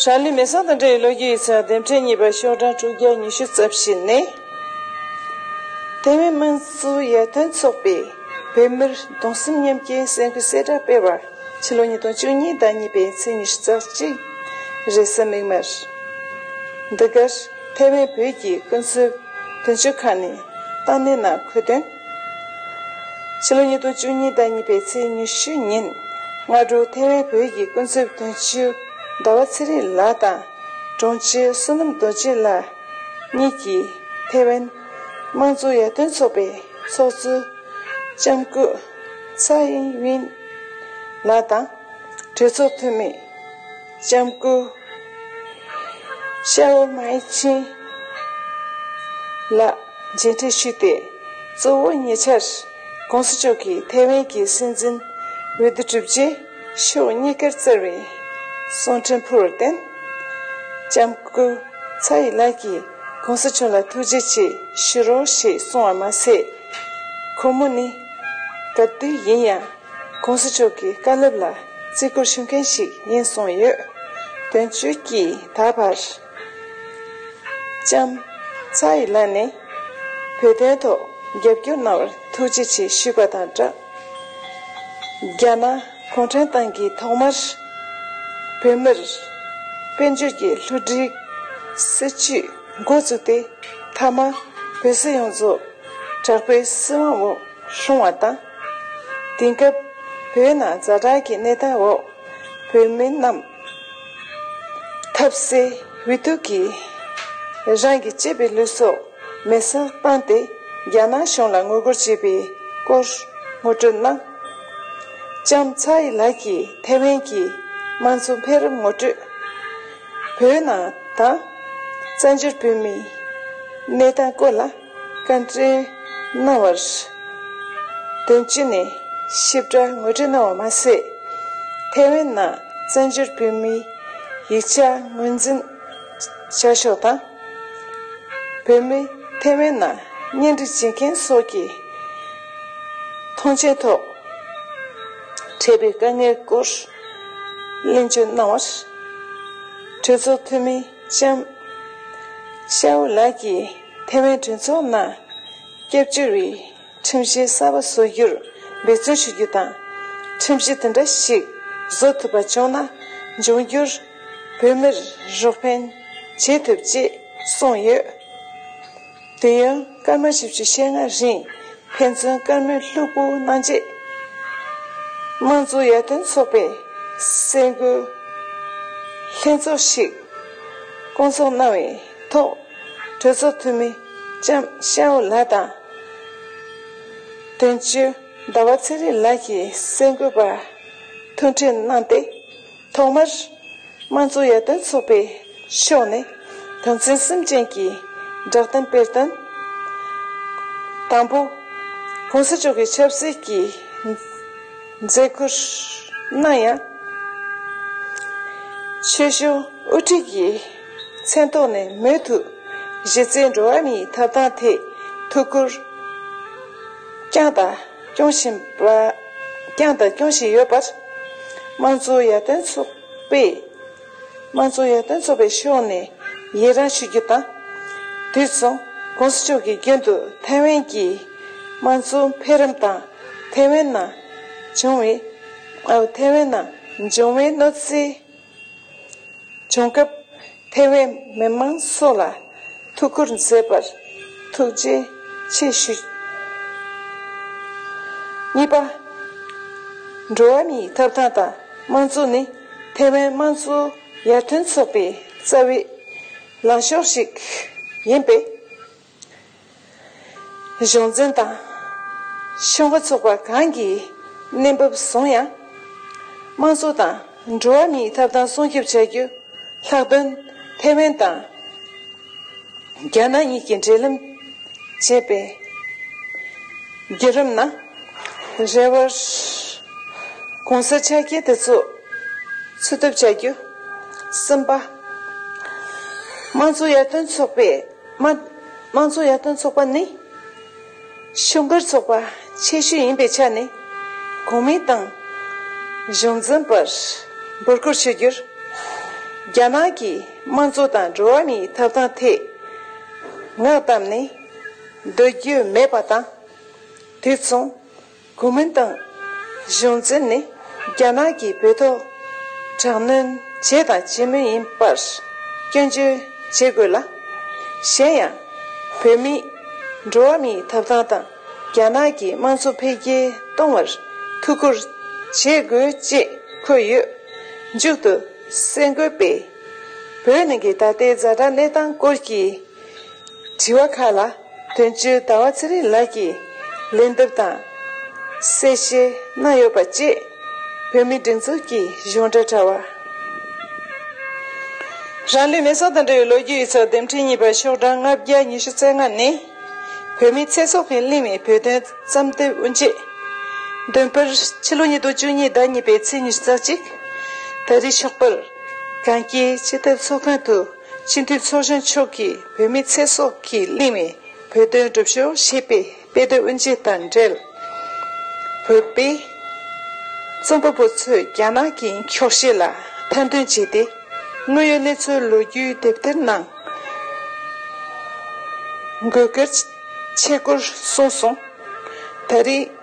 ཧྲ་ལི་མེ་བཟང་དང་འབྲེལ་བའི་ལོ་རྒྱུས་ཡིག་ཚགས་དེབ་ཕྲེང་གཉིས་པ་ཤོག་གྲངས་དྲུག་བརྒྱ་ཉི་ཤུ་རྩ་བཞི་ནི། ཐའེ་ཝན་དམངས་གཙོའི་ཡར་ཐོན་ཚོགས་པས་བོད་མིར་གདུང་སེམས་མཉམ་སྐྱེའི་གསལ་འཁོད་གསལ་བསྒྲགས་སྤེལ་བར་ཕྱི་ལོ་ཉིས་སྟོང་བཅུ་གཉིས་ཟླ་གཉིས་པའི་ཚེས་ཉི་ཤུ་རྩ་གཅིག་རེད་ས་མིག་མར། འདི་གར་ཐའེ་ཝན་བོད་ཀྱི་ཀུན་སྤྱོད་དོན་གཅོད་ཁང་ནས་ཏང་ནན་ནང་འཁོད་དོན། ཕྱི་ལོ་ཉིས་སྟོང་བཅུ་གཉིས་ཟླ་གཉིས་པའི་ཚེས་ཉི་ཤུ་ཉིན། སྔ་དྲོ་ཐེ་ཝན་བོད་ཀྱི་ཀུན་གཟིགས་དོན་གཅོད་ཟླ་བ་ཚེ་རིང་ལགས་དང། དྲུང་ཆེ་བསོད་ནམས་རྡོ་རྗེ་ལགས་གཉིས་ཀྱིས་ཐེ་ཝན་དམངས་གཙོ་ཡར་ཐོན་ཚོགས་པའི་ཚོགས་གཙོ་ལྕམ་སྐུ་ཚའེ་ཝིན་ལགས་དང་གྲོས་ཚོགས་འཐུས་མི། ལྕམ་སྐུ་ཤ་བོ་མའེ་ཅིན་ལགས་མཇལ་འཕྲད་ཞུས་ཏེ་གཙོ་བོ་ཉེ་ཆར ྋགོང་ས་མཆོག་གིས་ཐའེ་ཝན་གྱི་སྲིད་འཛིན་འོས་བསྡུ་གྲུབ་རྗེས་ཕྱོགས་གཉིས་ཀར་བསྩལ་བའི་གསུང་འཕྲིན་ཕུལ་བར་བརྟེན། ལྕམ་སྐུ་ཚའེ་ཡི་ལགས་ཀྱིས ྋགོང་ས་མཆོག་ལ་ཐུགས་རྗེ་ཆེ་ཞུ་རོགས་ཞེས་གསུངས་བ་མ་ཟད། ཁོ་མོ་ནི་ག་དུས་ཡིན་ཡང ྋགོང་ས་མཆོག་གི་བཀའ་སློབ་ལ་བརྩི་བཀུར་ཞུ་མཁན་ཞིག་ཡིན་གསུངས་ཡོད། དོན་གཅོད་ཀྱིས་ད་བར། ལྕམ། ཚའེ་ཡི་ལཱ་ནི། བོད་དོན་ཐོག་རྒྱབ་སྐྱོར་གནང་བར་ཐུགས་རྗེ་ཆེ་ཞུས་པ་དང་སྦྲགས། རྒྱ་ནག་གུང་ཁྲན་ཏང་གིས་ཐོག་མར། བོད་མིར། དཔལ་འབྱོར་གྱི་ལྷུ་སྒྲིག། སྲིད་ཇུས་མགོ་བཙུགས་ཏེ། མཐའ་མ། བོད་སྲིད་ཡོངས་རྫོགས། དྲག་པོའི་སྲིད་དབང་འོག་ལྷུང་བ་དང། དེང་སྐབས་བོད་ནང་རྫ་དྲག་གི་གནས་སྟངས་འོག་བོད་མི་རྣམས་ཐབས་ཟད་འུད་སྟུག་གིས་རང་གི་གཅེས་པའི་ལུས་སྲོག་མེ་སར་བཏང་སྟེ་རྒྱ་ནག་གཞུང་ལ་ངོ་རྒོལ་བྱས་པའི་སྐོར་ངོ་སྤྲོད་གནང། ལྕམ་ཚའེ་ཡི་ལགས་ཀྱིས་ཐེ་ཝན་གྱི་དམངས་གཙོ་འཕེལ་རིམ་ངོ་སྤྲོད། བོད་ནང་དང་བཙན་བྱོལ་བོད་མིའི་གནས་སྟངས་སྐོར་ལ། བཀའ་དྲིན་གནང་བར་བདེན་སྤྱི་ནས་ཞིབ་ཕྲ་ངོས་འཕྲད་གནང་བ་མ་ཟད། ཐའེ་ཝན་ནང་བཙན་བྱོལ་བོད་མིའི་ཡིག་ཆ་ངོས་འཛིན་བྱ་ཕྱོགས་དང། བོད་མི་ཐའེ་ཝན་ནང་གཉེན་སྒྲིག་བྱེད་མཁན་སོགས་ཀྱི་ཐོངས་མཆན་ཐོག་འཕྲད་པའི་དཀའ་ངལ་སྐོར་གླེང་བརྗོད་གནང་བར། གྲོས་ཚོགས་འཐུས་མི་ལྕམ་ཤའོ་ལགས་ཀྱིས། ཐའེ་ཝན་གྲོས་ཚོགས་ནང་སྐྱབས་བཅོལ་བའི་ཁྲིམས་གཞི་གསར་པ་བཟོ་རྒྱུར་འབད་བརྩོན་ཞུ་རྒྱུ་དང། ཁྲིམས་གཞི་དེ་འདྲ་ཞིག་བཟོ་ཐུབ་པ་བྱུང་ན་འབྱུང་འགྱུར་བོད་མིར་རོགས་ཕན་བྱེད་ཐུབ་ཅེས་གསུངས་ཡོད། དུས་ཡུན་སྐར་མ་བཞི་བཅུ་ཞེ་ལྔ་རིང་ཕན་ཚུན་བཀའ་མོལ་ལྷུག་པོ་གནང་རྗེས། དམངས་གཙོ་ཡར་ཐོན་ཚོགས་པའི་སེམས་འགུལ་ལྷན་ཚོགས་ཤིག་བསྐོང་ཚོགས་གནང་བས། ཐོག་གྲོས་ཚོགས་འཐུས་མི་ལྕམ་ཤའོ་ལ་དང། དོན་གཅོད་ཟླ་བ་ཚེ་རིང་ལགས་ཀྱིས་གསལ་འགོད་པར་མཐུན་འཕྲིན་གནང་སྟེ། ཐོག་མར། དམངས་གཙོ་ཡར་ཐོན་ཚོགས་པའི་ཕྱོགས་ནས་དོན་ཚན་སུམ་ཅན་གྱི་བསྒྲགས་གཏམ་སྤེལ་དོན། དང་པོ། གོང་ས་མཆོག་གི་ཆབ་སྲིད་ཀྱི་མཛད་སྒོར་གནང་ཡང། ཆོས་གཞུང་དབུ་ཁྲིད་ཀྱི། མཚན་རྟོགས་ནས་མོས་མཐུ། གཞི་རྩའི་འགྲོ་བ་མིའི་ཐབས་དང་ཐེག་ཐུག་སྐུར། བསྐྱངས་དང་སྐྱོང་བཞིན་པ། བསྐྱངས་དང་སྐྱོང་བཞིན་ཡོད་པར། དམངས་གཙོའི་ཡར་ཐོན་ཚོགས་པས། དམངས་གཙོའི་ཡར་ཐོན་ཚོགས་པའི་ཕྱོགས་ནས་ཡི་རངས་ཞུ་རྒྱུ་དང། དུས་མཚུངས ྋགོང་ས་མཆོག་གིས་རྒྱུན་དུ་ཐའེ་ཝན་གྱི་དམངས་གཙོ་འཕེལ་རིམ་དང་ཐའེ་ཝན་ནང་བྱུང་བའི་ཐའེ་ཝན་ནང་འབྱུང་བའི་གནོད་འཚེའི་བྱུང་སྐབས་ཐེ་བའི་མི་མང་སོགས་ལ་ཐུགས་ཁུར་མཛད་པར་ཐུགས་རྗེ་ཆེ་ཞུ། གཉིས་པ། འགྲོ་བ་མིའི་ཐོབ་ཐང་དང་དམངས་གཙོ་ནི་ཐེ་ཝན་དམངས་གཙོ་ཡར་ཐོན་ཚོགས་པའི་རྩ་བའི་ལངས་ཕྱོགས་ཤིག་ཡིན་པས། གཞུང་འཛིན་དང། ཤོག་ངོ་ཚོགས་པ་གང་གིས་གནས་བབ་བཟུང་ཡང། དམངས་གཙོ་དང་འགྲོ་བ་མིའི་ཐབ་ཐང་སྲུང་སྐྱོབ་བྱ་རྒྱུ། ལྷག་དོན་ཐའེ་ཝན་དང་རྒྱ་ནག་གཉིས་ཀྱི་འབྲེལ་ལམ་བཅད་པའི་རྒྱུད་རིམ་ན། རེ་བར་གོང་གསལ་ཆ་རྐྱེན་དེ་ཚོ་འཚོལ་ཐབས་བྱ་རྒྱུ། གསུམ་པ། དམངས་གཙོ་ཡར་ཐོན་ཚོགས་པས། དམངས་གཙོ་ཡར་ཐོན་ཚོགས་པ་ནི། ཕྱུག་འགྱུར་ཚོགས་པ་ཆེ་ཤོས་ཡིན་པའི་ཆ་ནས། གོང་སྨྲས་ཏང་གཞུང་འཛིན་པར་འབོད་སྐུལ་ཞུ་རྒྱུར། རྒྱ་ནག་གི་དམངས་གཙོ་དང་འགྲོ་བ་མིའི་ཐོབ་ཐང་ཐད་ངག་བཏབ་ནས་སྡོད་རྒྱུ་མེད་པ་དང། དུས་མཚུངས། གོ་མིན་ཏང་གཞུང་འཛིན་ནི་རྒྱ་ནག་གིས་བོད་ཐོག་དྲག་གནོན་བྱས་དང་བྱེད་མུས་ཡིན་པར་སྐྱོན་བརྗོད་བྱེད་དགོས་ལ། གཞན་ཡང། བོད་མི་འགྲོ་བ་མིའི་ཐོབ་ཐང་དང་རྒྱ་ནག་གི་དམངས་གཙོ་འཕེལ་རྒྱས་གཏོང་བར་ཐུགས་ཁུར་བྱེད་དགོས་ཅེས་འཁོད་ཡོད། མཇུག་ཏུ་སེང་གོལ་པས། བོད་ནང་གི་ད་ལྟའི་བཟའ་ཟླ་གནས་སྟངས་སྐོར་གྱི། དྲི་བ་ཁག་ལ་དོན་གཅོད་ཟླ་བ་ཚེ་རིང་ལགས་ཀྱིས་ལན་འདེབས་དང། གསལ་བཤད་གནང་ཡོད་པ་བཅས་བོད་མིའི་སྒྲིག་འཛུགས་ཀྱི་གཞུང་འབྲེལ་དྲ་བར། རང་ལུས་མེར་སྲེག་དང་འབྲེལ་བའི་ལོ་རྒྱུས་ཡིག་ཚགས་འདེམས་ཁྲི་གཉིས་པ་ཤོག་གྲངས་ལྔ་བརྒྱ་ཉི་ཤུ་རྩ་ལྔ་ནི། བོད་མིའི་ཚེ་སྲོག་གི་གླིང་བའི་བོད་དོན་བརྩམས་དོན་དབུ་འབྱེད། འདོན་སྤེལ། ཕྱི་ལོ་ཉིས་སྟོང་བཅུ་གཉིས་ཟླ་གཉིས་པའི་ཚེས་ཉི་ཤུ་རྩ་གཅིག། ད་རེས་ཕྱོགས་པར་གངས་སྐྱིད་སྤྱི་ཐབ་ཚོགས་ཁང་དུ། སྤྱི་འཐུས་ཚོགས་གཞོན་མཆོག་གིས་བོད་མི་ཚེ་སྲོག་གིས་བརླིང་བའི་བོད་དོན་སྒྲུབ་ཕྱོགས་ཞེས་པའི་དཔེ་སྟོན་དབུ་འབྱེད་དང་འབྲེལ། བོད་པའི་རྩོམ་པ་པོ་ཚོས་རྒྱ་ནག་གི་འཁྱོག་བཤད་ལ་ཐེར་འདོན་བྱས་ཏེ། དངོས་ཡོད་གནས་ཚུལ་ལོ་རྒྱུས་དེབ་ཐེར་ནང་འགོད་སྐབས་ཆེད་སྐོར་གསུངས་སོང། ད་རེས།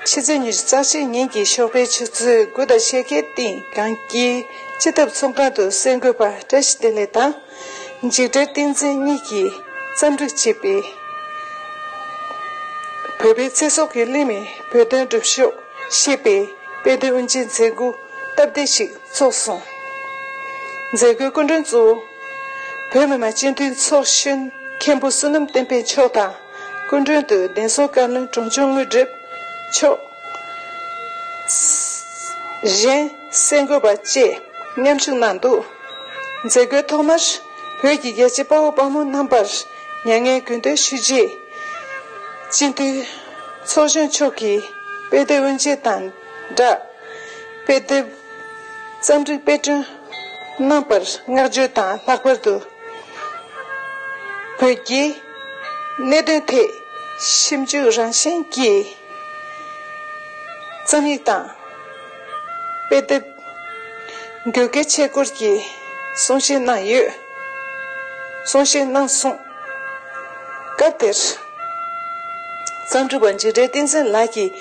ཕྱི་ཚེས་ཉེར་གསར་བཞེངས་ཉིན་གྱི་ཤོག་པའི་ཆུ་ཚོད་དགུ་དང་ཕྱེད་ཀའི་སྟེང་གངས་སྐྱིད་སྤྱི་ཐབ་ཚོང་ཁང་དུ་གསེར་འགོད་པ་བཀྲ་ཤིས་བདེ་ལེགས་དང། འཇིགས་བྲལ་བསྟན་འཛིན་གཉིས་ཀྱིས་རྩ་འཛུགས་བྱས་པའི་བོད་པའི་ཚེ་སྲོག་གི་གླེང་བའི་བོད་དོན་སྒྲུབ་ཕྱོགས་ཞེས་པའི་དཔེ་སྟོན་དབུ་འབྱེད་མཛད་སྒོ་སྟབས་བདེ་ཞིག་ཚོགས་སོང། མཛད་སྒོའི་སྐུ་མགྲོན་གཙོ་བོ། བོད་མི་མང་སྤྱི་འཐུས་ཚོགས་གཞོན་མཁན་པོ་བསོད་ནམས་བསྟན་འཕེལ་མཆོག་དང། སྐུ་མགྲོན་དུ་གདན་ས་བཀའ་བློན་དྲུང་ཆེ་དངོས་གྲུབ་མཆོག། གཞན་གསེར་འགོད་པ་བཅས་མཉམ་ཞུགས་གནང་འདུག་མཛད་སྒོའི་ཐོག་མར་བོད་ཀྱི་རྒྱལ་གཅེས་དཔའ་བོ་དཔའ་མོ་རྣམ་པར་མྱ་ངན་གུས་འདུད་ཞུས་རྗེས། སྤྱི་འཐུས་ཚོགས་གཞོན་མཆོག་གིས་དཔེ་དེབ་དབུ་འབྱེད་དང་སྦྲགས་དཔེ་དེབ་རྩོམ་སྒྲིག་དཔེ་སྐྲུན་རྣམ་པར་བསྔགས་བརྗོད་དང་ལྷག་པར་དུ་བོད་རྒྱའི། གནད་དོན་ཐད་ཞིབ་འཇུག་རང་བཞིན་གྱི་རྩོམ་ཡིག་དང་དཔེ་དེབ་འགྱུར་གལ་ཆེ་སྐོར་གྱི་གསུང་བཤད་གནང་ཡོད། གསུང་བཤད་གནང་གསུང། སྐབས་དེར། རྩོམ་སྒྲིག་པ་འཇིགས་བྲལ་བསྟན་འཛིན་ལགས་ཀྱིས་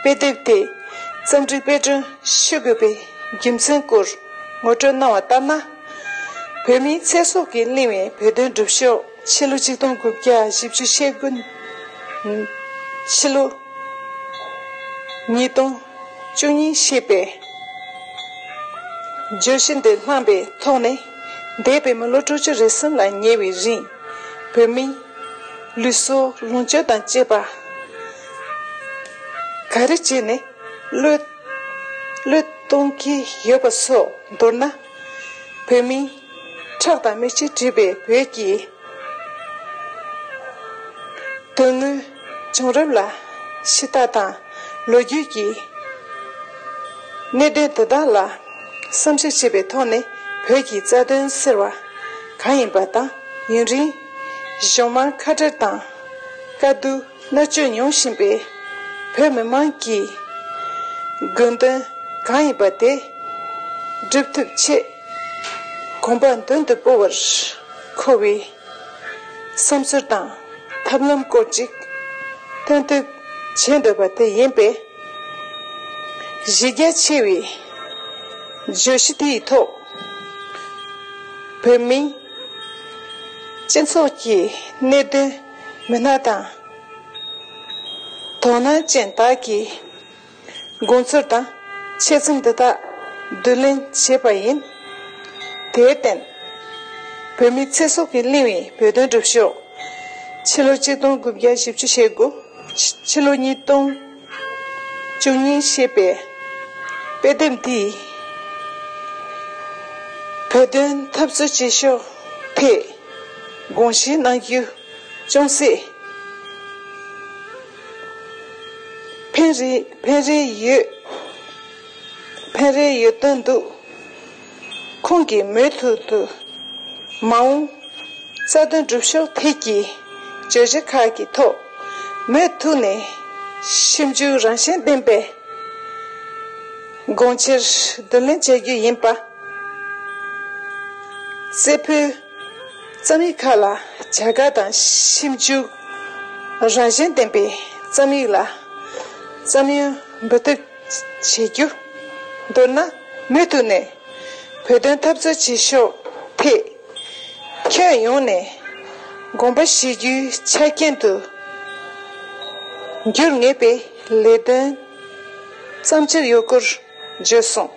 དཔེ་དེབ་དེ་རྩོམ་སྒྲིག་དཔེ་སྐྲུན་ཞུ་དགོས་པའི་རྒྱུ་མཚན་སྐོར་ངོ་སྤྲོད་གནང་བ་ལྟར་ན། བོད་མིའི་ཚེ་སྲོག་གིས་བརླིང་བའི་བོད་དོན་སྒྲུབ་ཕྱོགས། ཕྱི་ལོ་ཆིག་སྟོང་དགུ་བརྒྱ་བཞི་བཅུ་ཤེལ་དགུ་ནས་ཕྱི་ལོ་ཉིས་སྟོང་བཅུ་གཉིས་ཞེས་པའི་བརྗོད་གཞི་འདི་བླངས་པའི་ཐོག་ནས་འདས་པའི་མི་ལོ་དྲུག་ཅུ་རེ་གསུམ་ལ་ཉེ་བའི་རིང་བོད་མི་ལུས་སྲོག་ལོངས་སྤྱོད་དང་བཅས་པ་ག་རེ་བྱས་ནས་བློས་གཏོང་གི་ཡོད་པ་སོགས་མདོར་ན། བོད་མི། ཁྲག་དང་མིག་ཆུ་འདྲིས་པའི་བོད་ཀྱི། དོན་དངོས་བྱུང་རབས་ལ་ཕྱི་ལྟ་དང། ལོ་རྒྱུས་ཀྱི། གནད་དོན་དེ་དག་ལ། བསམ་ཞིབ་བྱེད་པའི་ཐོག་ནས་བོད་ཀྱི་རྩ་དོན་ཟེར་བ། གང་ཡིན་པ་དང་ཡུན་རིང། གཞོན་དམངས་ཁ་བྲལ་དང། དཀའ་སྡུག། གནོད་སྐྱོན་མྱོང་བཞིན་པའི་བོད་མི་དམངས་ཀྱི་དགོས་འདུན་གང་ཡིན་པ་དེ་སྒྲུབ་ཐུབ་ཆེད་གོམ་པ་མདུན་དུ་སྤོ་བར་མཁོ་བའི་བསམ་ཚུལ་དང་ཐབས་ལམ་སྐོར་ཅིག་སྟོན་བསྡུ་བྱེད་འདོད་པ་དེ་ཡིན་པས། གཞི་རྒྱ་ཆེ་བའི་བརྗོད་གཞི་དེའི་ཐོག་བོད་མིའི་སྤྱི་ཚོགས་ཀྱི་གནད་དོན། མི་སྣ་དང། དོ་སྣང་ཅན་དག་གིས་དགོངས་ཚུལ་དང་འཆད་རྩོམ་འདི་དག་བསྡུ་ལེན་བྱས་པ་ཡིན། དེར་བརྟེན། བོད་མིའི་ཚེ་སྲོག་གི་གླེང་བའི་བོད་དོན་སྒྲུབ་ཕྱོགས། ཕྱི་ལོ་གཅིག་སྟོང་དགུ་བརྒྱ་བཞི་བཅུ་ཞེ་དགུཕྱི་ལོ་གཉིས་སྟོང། བཅུ་གཉིས་ཞེས་པའི་དཔེ་དེབ་འདིས། བོད་དོན་འཐབ་རྩོད་བྱེད་ཕྱོགས་ཐད་དགོངས་བཞེས་གནང་རྒྱུ་ཅུང་ཟད་ཕན་རེ་ཡོད་དོན་འདུག། ཁོང་གིས་མུ་མཐུད་དུ། མ་འོངས། རྩ་དོན་སྒྲུབ་ཕྱོགས་ཐད་ཀྱི་བརྗོད་གཞི་ཁག་གི་ཐོག་མུ་མཐུད་ནས་ཞིབ་འཇུག་རང་བཞིན་ལྡན་པའི་དགོངས་ཕྱིར་བསྡུ་ལེན་བྱ་རྒྱུ་ཡིན་པ། རྩེ་ཕུད། རྩོམ་ཡིག་ཁག་ལ་བྱ་དགའ་དང་ཞིབ་འཇུག་རང་བཞིན་ལྡན་པའི་རྩོམ་ཡིག་ལ་བསམ་ཡོན་འབུལ་ཐུབ། བྱེད་རྒྱུ། མདོར་ན། མུ་མཐུད་ནས། བོད་དོན་འཐབ་རྩོད་བྱེད་ཕྱོགས་ཐད། ཁྱོན་ཡོངས་ནས། དགོངས་པ་བཞེས་རྒྱུའི་ཆ་རྐྱེན་དུ། འགྱུར་ངེས་པའི་ལས་དོན། བརྩམ་འཆར་ཡོད་སྐོར། བརྗོད་སོང།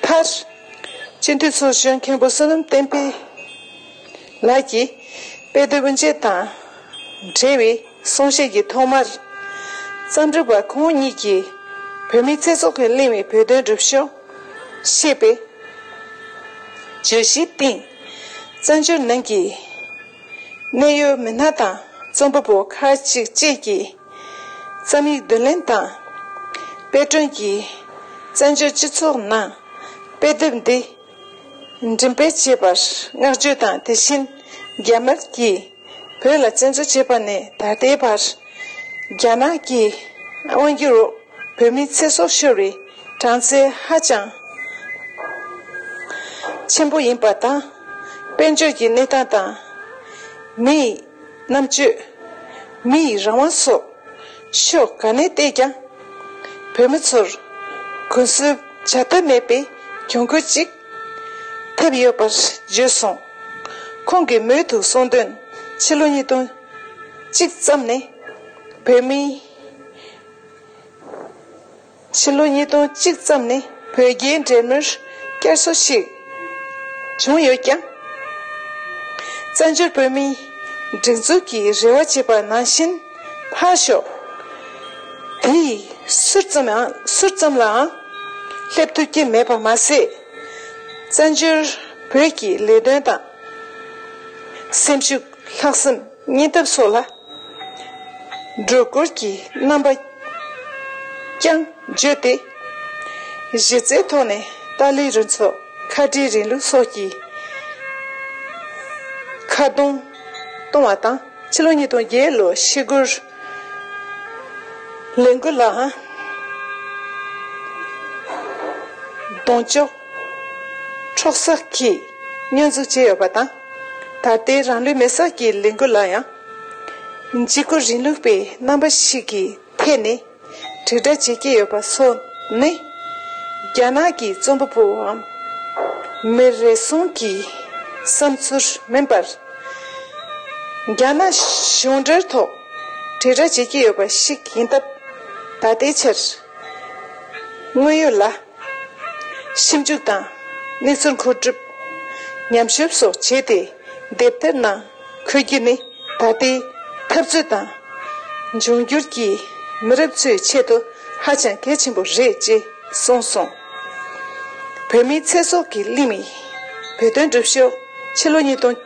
མཐར། སྤྱི་འཐུས་ཚོགས་གཞོན་མཁན་པོ་བསོད་ནམས་བསྟན་འཕེལ། ལགས་ཀྱིས། དཔེ་སྟོན་པོ་མཇལ་དང་འབྲེལ་བའི་གསུང་བཤད་ཀྱི་ཐོག་མར། བརྩམས་སྒྲུང་པ་ཁོང་གཉིས་ཀྱིས་བོད་མིའི་ཚེ་སྲོག་གིས་བརླིང་བའི་བོད་དོན་སྒྲུབ་ཕྱོགས། ཞེས་པའི་བརྗོད་གཞིའི་སྟེང། བཙན་བྱོལ་ནང་གི་གནད་ཡོད་མི་སྣ་དང་རྩོམ་པ་པོ་ཁག་ཅིག་བཅས་ཀྱིས། རྩོམ་ཡིག་བསྡུ་ལེན་དང་དཔེ་སྐྲུན་གྱིས་བཙན་བྱོལ་སྤྱི་ཚོགས་ནང་དཔེ་དེབ་འདི། མགྲིན་པའི་བཅས་པར་བསྔགས་བརྗོད་དང་དེ་བཞིན་རྒྱ་དམར་གྱིས་བོད་ལ་བཙན་འཛུལ་བྱས་པ་ནས་ད་ལྟའི་བར། རྒྱ་ནག་གི་དབང་སྒྱུར་འོག་བོད་མིའི་ཚེ་སྲོག་ཤོར་བའི་གྲངས་ཚད་ཧ་ཅང་ཆེན་པོ་ཡིན་པ་དང། དཔལ་འབྱོར་གྱི་གནས་སྟངས་དང། མིའི། རྣམ་དཔྱོད། མི་ཡི་རང་དབང་སོགས། ཕྱོགས་གང་ནས་བལྟས་ཀྱང། བོད་མི་ཚོར། གུན་གསུམ་བྱ་ཐབས་མེད་པའི་གྱོང་གུད་ཅིག། ཐེབས་ཡོད་པར་བརྗོད་སོང། ཁོང་གིས་མོས་ཐུག་གསུང་དོན་ཕྱི་ལོ་ཉིས་སྟོང་གཅིག་ཙམ་ནས། བོད་མིའི། ཕྱི་ལོ་ཉིས་སྟོང་གཅིག་ཙམ་ནས་བོད་རྒྱའི་འབྲེལ་མོལ་བསྐྱར་གསོ་ཞིག་བྱུང་ཡོད་ཀྱང། བཙན་བྱོལ་བོད་མིའི་སྒྲིག་འཛུགས་ཀྱི་རེ་བ་བྱས་པ་ནང་བཞིན་ཕར་ཞོག་དེ་ཡི་ཟུར་ཙམ་ཟུར་ཙམ་ལའང་སླེབས་ཐུབ་ཀྱི་མེད་པ་མ་ཟད། བཙན་བྱོལ་བོད་ཀྱི་ལས་དོན་དང་སེམས་ཤུགས་ལྷག་བསམ། གཉེན་སྟབས་སོགས་ལ། སྒྲོལ་དཀོར་གྱི་རྣམ་པ་རྐྱང་བརྗོད་དེ། གཞི་རྩའི་ཐོག་ནས་ཏཱ་ལའི་རུ་ཚོགས་ཁ་བྲལ་རིང་ལུགས་སོགས་ཀྱི་ཁ་རྡུང་གཏོང་བ་དང། ཕྱི་ལོ་ཉིས་སྟོང་བརྒྱད་ལོ་ཞི་རྒོལ་ལས་འགུལ་ལའང་གདོང་གཅོག་འཕྲོག་བསགས་ཀྱིས་བསྙོན་འཛུགས་བྱས་ཡོད་པ་དང། ད་ལྟའི་རང་ལུས་མེར་སྲེག་གི་ལས་འགུལ་ལ་ཡང། འཇིགས་སྐུལ་རིང་ལུགས་པའི་རྣམ་པ་ཞིག་གི་ཐད་ནས་དྲིལ་བསྒྲགས་བྱེད་ཀྱི་ཡོད་པ་སོགས་ནི། རྒྱ་ནག་གི་རྩོམ་པ་པོའམ་མི་རེ་ཟུང་གི་བསམ་ཚུལ་མིན་པར། རྒྱ་ནག་གཞུང་འབྲེལ་ཐོག་དྲིལ་བསྒྲགས་བྱེད་ཀྱི་ཡོད་པ་ཞིག་ཡིན་སྟབས། ད་ལྟའི་ཆར་དངོས་ཡོད་ལ། ཞིབ་འཇུག་དང་གནས་ཚུལ་མཁོ་སྒྲུབ། ཉམས་ཞིབ་སོགས་བྱས་ཏེ་དེབ་ཐེར་ནང་འཁོད་རྒྱུ་ནི་ད་ལྟའི་འཐབ་རྩོད་དང་འབྱུང་འགྱུར་གྱི་མི་རབས་ཚོའི་ཆེད་དུ་ཧ་ཅང་གལ་ཆེན་པོ་རེད་ཅེས་གསུངས་སོང། བོད་མིའི་ཚེ་སྲོག་གི་གླིང་མིག་བོད་དོན་སྒྲུབ་ཕྱོགས་ཕྱི་ལོ་ཉིས་སྟོང།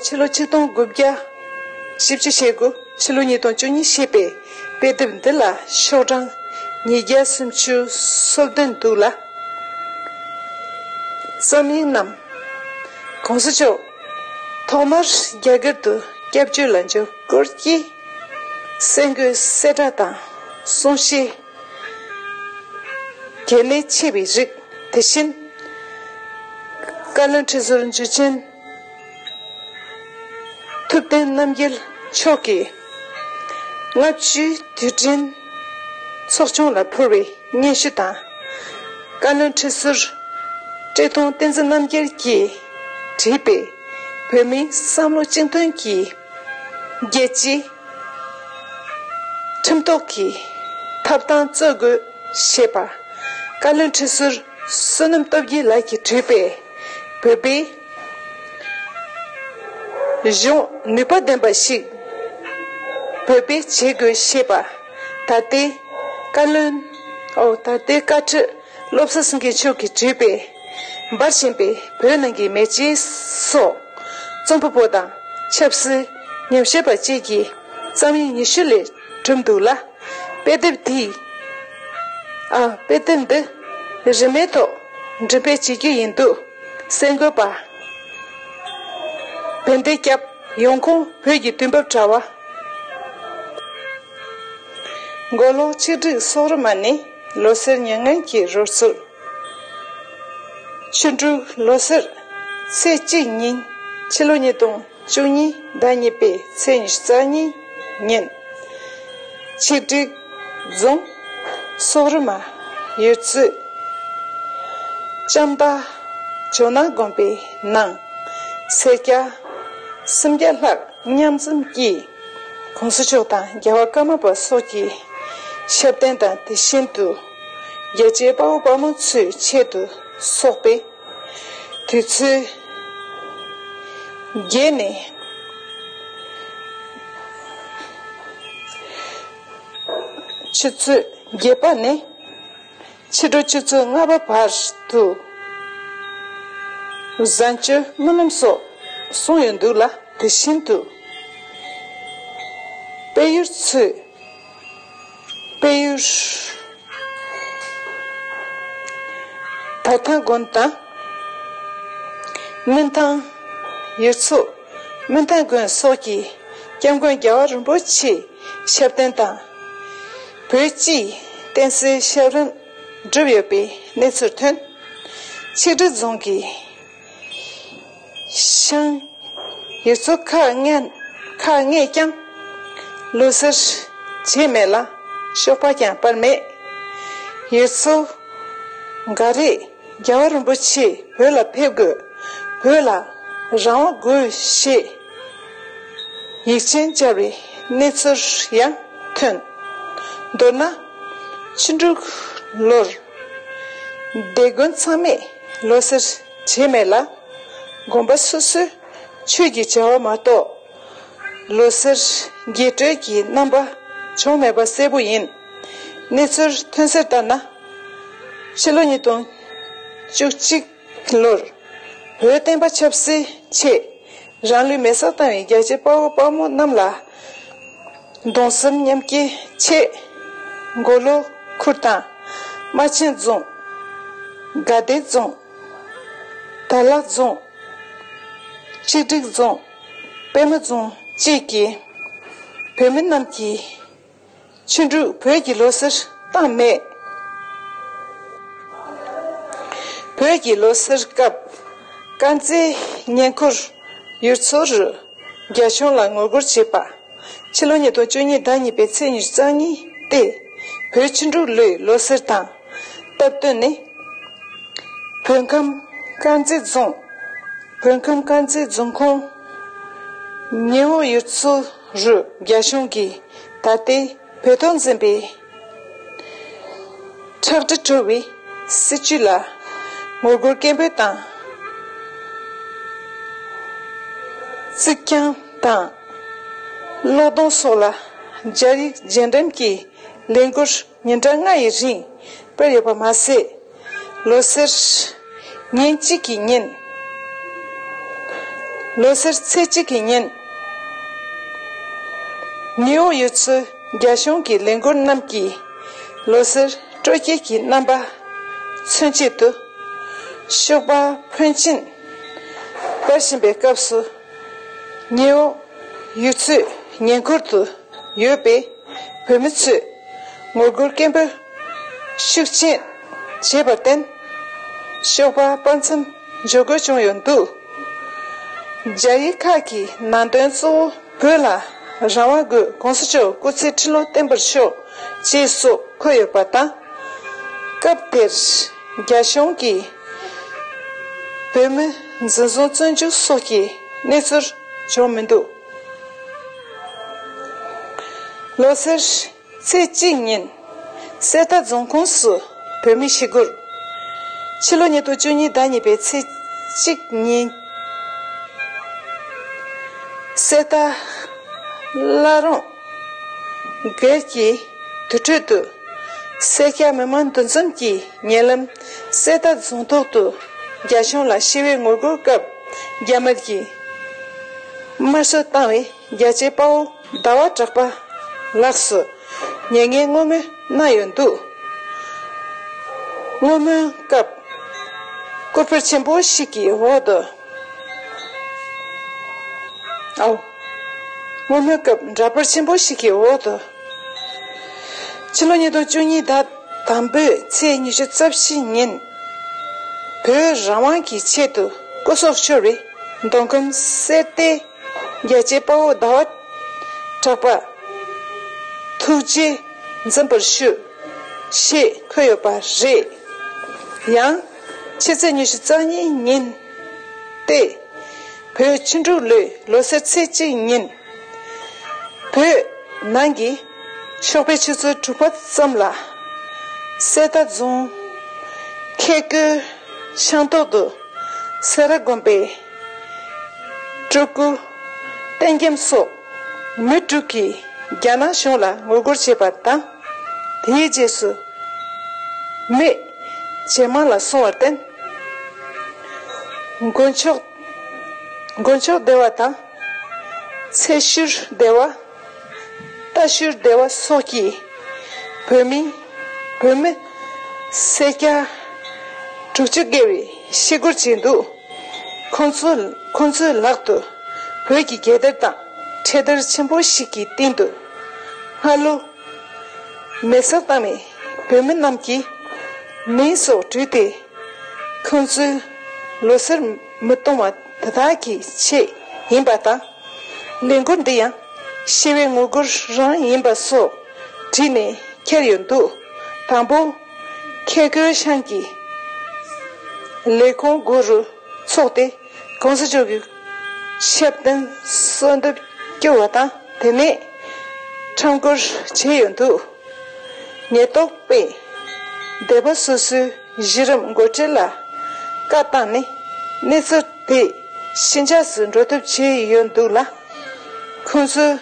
ཕྱི་ལོ་ཆིག་སྟོང་དགུ་བརྒྱ། ཞིབ་ཕྱི་བྱེད་སྒོ་ཕྱི་ལོ་ཉིས་སྟོང་བཅུ་གཉིས་ཞེས་པའི། དཔེ་དེབ་འདི་ལ་ཤོག་གྲངས་ཉིས་བརྒྱ་སུམ་བཅུ་སོ་བདུན་འདུག་ལ། བརྩམས་ཡིག་རྣམས་གོང་ས་མཆོག་ཐོག་མར་རྒྱ་གར་དུ་སྐྱབས་བཅོལ་ལ་འབྱོར་སྐོར་གྱི་གསལ་འགོད་གསལ་བསྒྲགས་དང་གསུང་བཤད། གལ་གནད་ཆེ་བའི་རིགས་དེ་བཞིན། བཀའ་བློན་ཁྲི་ཟུར་འཇུ་ཆེན། ཐུབ་བསྟན་རྣམ་རྒྱལ་མཆོག་གིས། ལྔ་བཅུའི་དུས་དྲན་ཚོགས་ཆུང་ལ་ཕུལ་བའི་སྙན་ཞུ་དང། བཀའ་བློན་ཁྲི་ཟུར་བཀྲས་མཐོང་བསྟན་འཛིན་རྣམ་རྒྱལ་གྱིས་བྲིས་པའི་བོད་མིའི་བསམ་བློ་གཅིག་མཐུན་གྱི་རྒྱལ་གཅེས་ཁྲིམས་གཏོགས་ཀྱི་ཐབས་དང་རྩོད་དགོས་ཞེས་པར་བཀའ་བློན་ཁྲི་ཟུར་བསོད་ནམས་སྟོབས་རྒྱལ་ལགས་ཀྱིས་བྲིས་པའི། བོད་པའི་གཞུང་ནུས་པ་ལྡན་པ་ཞིག་བོད་པས་བྱེད་དགོས་ཞེས་པ་ད་ལྟའི་བཀའ་བློན་ཨོ་ད་ལྟའི་བཀའ་ཁྲི་བློ་བཟང་སེང་གེ་མཆོག་གིས་བྲིས་པའི་འབར་བཞིན་པའི་བོད་ནང་གི་མེ་ལྕེ་སོགས་རྩོམ་པ་པོ་དང་ཆབ་སྲིད་ཉམས་ཞིབ་པ་བཅས་ཀྱིས་བརྩམས་ཡིག་ཉི་ཤུ་ལས་གྲུབ་འདུག་ལ། དཔེ་དེབ་དེ། ཨ། དཔེ་དེབ་འདི། རིན་མེད་ཐོག། འབྲི་སྤེལ་བྱེད་རྒྱུ་ཡིན་འདུག། གསལ་འགོད་པ། བན་དེ་སྐྱབས། ཡོང་ཁུངས་བོད་ཀྱི་དུས་བབ་དྲ་བ། མགོ་ལོག་ཆིག་སྒྲིག་སོག་རི་མ་ནི། ལོ་སེར་མྱ་ངན་གྱི་རོལ་ཚུལ། ཆུ་འབྲུག་ལོ་སེར། ཚེས་གཅིག་ཉིན། ཕྱི་ལོ་ཉིས་སྟོང། བཅུ་གཉིས་ཟླ་གཉིས་པའི་ཚེས་ཉི་ཤུ་རྩ་གཉིས་ཉིན། ཆིག་སྒྲིལ་རྫོང། སོག་རི་མ། ཡུལ་ཚོའི། ལྕམ་དག། ཇོ་ནང་དགོན་པའི་ནང། སེར་སྐྱ། སུམ་བརྒྱ་ལྷག་མཉམ་འཛོམས་ཀྱིས། གོང་ས་མཆོག་དང་རྒྱལ་བ་ཀརྨ་པ་སོགས་ཀྱི། ཞབས་བརྟན་དང་དེ་བཞིན་དུ། རྒྱལ་གཅེས་དཔའ་བོ་དཔའ་མོ་ཚོའི་ཆེད་དུ་སོག་པའི། དུས་ཚོད་བརྒྱད་ནས་ཆུ་ཚོད་བརྒྱད་པ་ནས་ཕྱི་དྲོ་ཆུ་ཚོད་ལྔ་པ་བར་དུ་བཟའ་བཅའ་སྨོན་ལམ་སོགས་གསུངས་ཡོད་འདུག་ལ་དེ་བཞིན་དུ་དཔལ་ཡུལ་ཚོས། དཔལ་ཡུལ། བོ་ཐང་དགོན་དང། སྨིན་ཐང། ཡུལ་ཚོ། སྨིན་ཐང་དགོན་སོགས་ཀྱི་སྐྱབས་མགོན་རྒྱལ་བ་རིན་པོ་ཆེའི་ཞབས་བརྟན་དང། བོད་སྤྱིའི་བསྟན་སྲིད་ཞབས་རིམ་བསྒྲུབས་ཡོད་པའི་གནས་ཚུལ་ཐོན། ཆིག་སྒྲིལ་རྫོང་གི་ཤིང། དེ་ཚོ་ཁ་སྔས་ཀྱང། ལུས་སེར་བྱེད་མེད་ལ། གཤོག་པ་ཀྱང་སྤར་མེད། ཡོད་ཚོ། འགའ་རེས་རྒྱལ་བ་རིན་པོ་ཆེ་བོད་ལ་ཕེབས་དགོས། བོད་ལ་རང་དབང་དགོས་ཞེས། ཡིག་ཆེན་སྦྱར་བའི་གནས་ཚུལ་ཡང་ཐོན། མདོར་ན། ཕྱི་འབྲུག་ལོར། སྡེ་དགོན་ཚང་མས་ལོ་སེར་བྱས་མེད་ལ། དགོན་པ་སོ་སོས་ཆོས་ཀྱི་བྱ་བ་མ་གཏོགས་ལོ་སེར་རྒྱས་སྤྲོས་ཀྱི་རྣམ་པ་བྱུང་མེད་པ་གསལ་པོ་ཡིན། གནས་ཚུལ་ཐོན་གསལ་ལྟར་ན། ཕྱི་ལོ་ཉིས་སྟོང་བཅུ་གཅིག། ལོར། བོད་བསྟན་པ་ཆབ་སྲིད་ཆེད་རང་ལུས་མེ་སྲེག་བཏང་བའི་རྒྱལ་གཅེས་དཔའ་བོ་དཔའ་མོ་རྣམས་ལ། གདུང་སེམས་མཉམ་སྐྱེ་ཆེད། མགོ་ལོག་ཁུལ་དང། རྨ་ཆེན་རྫོང། དགའ་ལྡན་རྫོང། དར་ལག་རྫོང། གཅིག་སྒྲིག་རྫོང། པད་མ་རྫོང་བཅས་ཀྱི་བོད་མི་རྣམས་ཀྱིས། ཕྱིན་དྲུག་བོད་ཀྱི་ལོ་སར་སྟངས་སྨྲས། བོད་ཀྱི་ལོ་སར་སྐབས་དཀར་མཛེས་ཉེ་འཁོར་ཡུལ་ཚོ་རུ་རྒྱ་གཞུང་ལ་ངོ་རྒོལ་བྱས་པ། ཕྱི་ལོ་ཉིས་སྟོང་བཅུ་གཉིས་ཟླ་གཉིས་པའི་ཚེས་ཉེར་གསང་ཉིན་ཏེ། བོད་ཕྱི་འབྲུག་ལོའི་ལོ་སར་དང་སྟབས་བསྟུན་ནས། བོད་ཁམས་དཀར་མཛེས་རྫོང། བོད་ཁམས་དཀར་མཛེས་རྫོང་ཁོངས་ཉེ་འོག་ཡུལ་ཚོ། རུ་རྒྱ་གཞུང་གིས་ད་ལྟའི་བོད་དོན་འཛིན་པའི་ཁྲག་དྲི་བྲོ་བའི་སྲིད་བྱུས་ལ་ངོ་རྒོལ་སྐད་འབོད་དང། གཙིགས་རྐྱང་དང་བློས་གཏོང་སོགས་ལ་སྦྱར་ཡིག་རྗེས་འགྲེམས་ཀྱིས་ལས་འགུལ། ཉིན་གྲངས་ལྔ་ཡི་རིང་སྤེལ་ཡོད་པ་མ་ཟད། ལོ་སེར་ཉིན་གཅིག་གི་ཉིན། ལོ་སེར་ཚེས་གཅིག་གི་ཉིན། ནེའུ་ཡོག་ཡུལ་ཚོའི་རྒྱ་གཞུང་གི་ལས་འགུལ་རྣམས་ཀྱིས་ལོ་སེར་སྤྲོ་སྐྱིད་ཀྱི་རྣམ་པ་མཚོན་བྱེད་དུ། ཤུག་པ་ཕོན་ཆེན་སྤེལ་བཞིན་པའི་སྐབས་སུ། ནེའུ་ཡོག་ཡུལ་ཚོའི་ཉེ་འཁོར་དུ་ཡོད་པའི། བོད་མི་ཚོས་ངོ་རྒོལ་སྐད་འབོད་ཤུགས་ཆེན་བྱས་པར་བརྟེན། ཤོག་པ་དཔར་མཚམས་འཇོག་དགོས་བྱུང་ཡོད་འདུག་རྒྱ་ཡིག་ཁག་གི་ནང་དོན་གཙོ་བོ་བོད་ལ་རང་དབང་དགོས་གོང་ས་མཆོག་སྐུ་ཚེ་ཁྲི་ལོ་བརྟན་པར་ཤོག་ཅེས་སོགས་འཁོད་ཡོད་པ་དང། སྐབས་དེར་རྒྱ་གཞུང་གིས་བོད་མི་འཛིན་བཟུང་བཙོན་འཇུག་སོགས་ཀྱི་གནས་ཚུལ་བྱུང་མི་འདུག། ལོ་སར་ཚེས་གཅིག་ཉིན་གསེར་རྟ་རྫོང་ཁོངས་སུ་བོད་མི་ཞི་རྒོལ། ཕྱི་ལོ་ཉིས་སྟོང་བཅུ་གཉིས་ཟླ་གཉིས་པའི་ཚེས་གཅིག་ཉིན་གསེར་རྟ་བླ་རུང་སྒེར་གྱི་དུར་ཁྲོད་དུ་སེར་སྐྱ་མི་མང་འདུ་འཛོམས་ཀྱིས་ཉེ་ལམ་གསེར་རྟ་རྫོང་ཐོག་ཏུ་རྒྱ་གཞུང་ལ་ཞི་བའི་ངོ་རྒོལ་སྐབས། རྒྱ་དམར་གྱིས་དམར་ཤོག་བཏང་བའི་རྒྱལ་གཅེས་དཔའ་བོ་ཟླ་བ་གྲགས་པ་ལགས་སུ་ཉེས་ངན་བསྔོ་སྨོན་གནང་ཡོད་འདུག་བསྔོ་སྨོན་སྐབས་སྐུ་ཕུད་ཆེན་པོ་ཞིག་གི་འོག་ཏུ་ཨའོ། བསྔོ་སྨོན་སྐབས་འདྲ་པར་ཆེན་པོ་ཞིག་གི་འོག་ཏུ་ཕྱི་ལོ་ཉིས་སྟོང་བཅུ་གཉིས་ཟླ། དང་པོས་ཚེས་ཉི་ཤུ་རྩ་བཞི་ཉིན་བོད་རང་དབང་གི་ཆེད་དུ་སྐུ་སྲོག་ཤོར་བའི་མདོ་ཁམས་གསེར་རྟའི་རྒྱལ་གཅེས་དཔའ་བོ་ཟླ་བ་གྲགས་པར་ཐུགས་རྗེ་འཛིན་པར་ཞུ་ཞེས་འཁོད་ཡོད་པ་རེད། ཡང་ཕྱི་ཚེས་ཉི་ཤུ་རྩ་གཉིས་ཉིན་ཏེ་བོད་ཕྱི་འབྲུག་ལོའི་ལོ་སར་ཚེས་གཅིག་ཉིན། བོད་ནང་གི་ཤོག་པའི་ཆུ་ཚོད་དྲུག་པ་ཙམ་ལ། གསེར་རྟ་རྫོང་ཁལ་ཀོའི་ཤང་ཐོག་ཏུ་སེ་ར་དགོན་པའི་སྤྲུལ་སྐུ་བསྟན་རྒྱམ་སོགས་མི་དྲུག་གིས་རྒྱ་ནག་གཞུང་ལ་ངོ་རྒོལ་བྱས་པ་དང། དེའི་རྗེས་སུ་མི་ཇེ་མང་ལ་སོང་བར་བརྟེན། དགུན་ཆོས་སྡེ་བ་དང། ཚད་གཞིར་བདེ་བ། ལྟ་གཞིར་བདེ་བ་སོགས་ཀྱིས་བོད་མི། བོད་མི། སེར་སྐྱ། དྲུག་ཅུ་བརྒལ་བའི་ཤི་སྒོར་བྱས་འདུག་ཁོང་ཚོ་ཁོང་ཚོའི་ལག་ཏུ་བོད་ཀྱི་རྒྱལ་དར་དང་འཕྲེད་དར་ཆེན་པོ་ཞིག་གི་སྟེང་དུ་སྔ་ལོ། མེ་གསར་བཏང་བའི་བོད་མི་རྣམས་ཀྱི་མིང་སོགས་བྲུས་ཏེ། ཁོང་ཚོའི་ལོ་སར་མི་གཏོང་བ། དེ་དག་གི་ཆེད་ཡིན་པ་དང། ལས་འགུལ་འདི་ཡང་ཤི་བའི་ངོ་རྒོལ་རང་ཡིན་པ་སོགས་བྲིས་ནས་ཁྱེར་ཡོད་འདུག་དང་པོ། ཁྱེད་རྒོད་ཤང་གི་ལས་ཁུངས་དགུ་རུ་ཚུགས་ཏེ་གོང་ས་མཆོག་གི་ཞབས་བརྟན་གསོལ་འདེབས་བསྐྱུར་བ་དང་དེ་ནས་ཁྲམ་བཀོར་བྱས་ཡོད་འདུག། ཉེར་བསྡོགས་དཔེ། སྡེ་པ་སོ་སོའི་གཞི་རིམ་འགོ་ཁྲིད་ལ་བཀའ་བཏང་ནས་གནས་ཚུལ་དེ་ཕྱི་འཇགས་སུ་འགྲོ་ཐབས་བྱས་ཡོད་འདུག་ལ། ཁོང་ཚོས་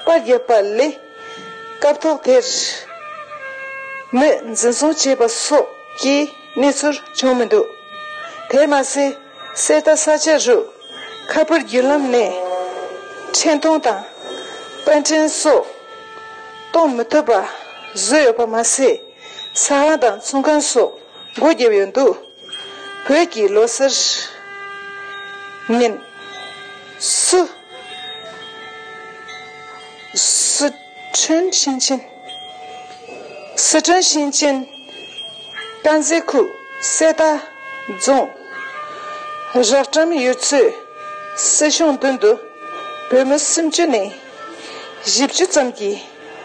པར་བརྒྱབ་པ་ལས་སྐབས་ཐོག་དེར་མི་འཛིན་བཟུང་བྱས་པ་སོགས་ཀྱི་གནས་ཚུལ་བྱུང་མི་འདུག་དེར་མ་ཟད། གསེར་རྟ་ས་ཆ་རུ། ཁ་པར་བརྒྱུད་ལམ་ནས་འཕྲིན་གཏོང་དང་པར་འཕྲིན་སོགས་གཏོང་མི་ཐུབ་པ་བཟོས་ཡོད་པ་མ་ཟད། ས་ཁང་དང་ཚོང་ཁང་སོགས་སྒོ་བརྒྱབ་ཡོད་འདུག་བོད་ཀྱི་ལོ་གསར་ཉིན། སུ། ཁྲོན་ཞིང་ཆེན། སི་ཁྲོན་ཞིང་ཆེན། དཀར་མཛེས་ཁུལ་གསེར་རྟ་རྫོང། རགས་ཀྲམ་ཡུལ་ཚོའི་སྲིད་གཞུང་མདུན་དུ་བོད་མི་སུམ་ཅུ་ནས་བཞི་བཅུ་ཙམ་གྱིས་